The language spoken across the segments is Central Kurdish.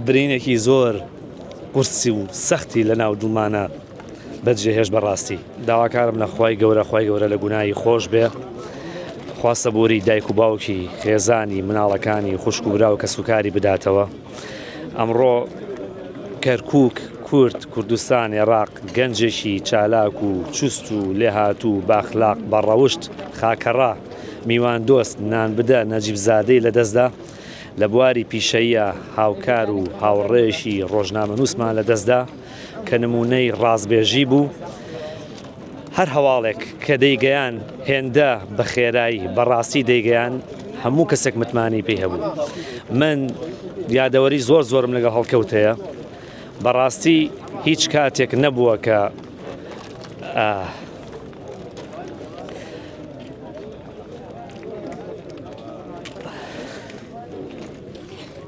برینێکی زۆر قورسی و سەختی لە ناو دڵمانە بەجێهێش بەڕاستی داواکارم لە خی گەورە خی گەورە لە گوناایی خۆش بێ خواستە بۆری دایک و باوکی خێزانی مناڵەکانی خوشک و برا و کەسوکاری بداتەوە ئەمڕۆ کەرکووک، کورد، کوردستان، ئێڕاق، گەنجێکی چالاک و چوست و لێهاتوو، باخلاق، بەڕەوشت، خاکەڕا، میواندۆست، نانبدە، نەجیبزادەی لەدەستدا. لە بواری پیشەییا هاوکار و هاوڕێیەکی ڕۆژنامەنووسمان لەدەستدا. کە نمونەی ڕازبێژی بوو هەر هەواڵێک کە دەیگەیان هێندە بە خێرایی بەڕاستی دەیگەیان هەموو کەسێک متمانەی پێی هەبوو من یادەوەری زۆر زۆرم لەگە هەڵکەوت هەیە بەڕاستی هیچ کاتێک نەبووە کە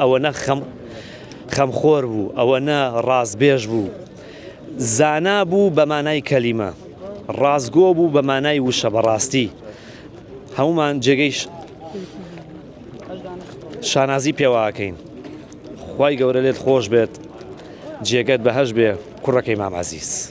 ئەوەنە خەمخۆر بوو، ئەوەنە ڕاستبێژ بوو. زانا بوو بە مانای کەلیمە. ڕاستگۆ بوو بە مانای وشە بە ڕاستی. هەموومان جێگەی شانازی پێواکەین. خوای گەورە لێت خۆش بێت. جێگەت بەهەشت بێ کوڕەکەی مام عەزیز.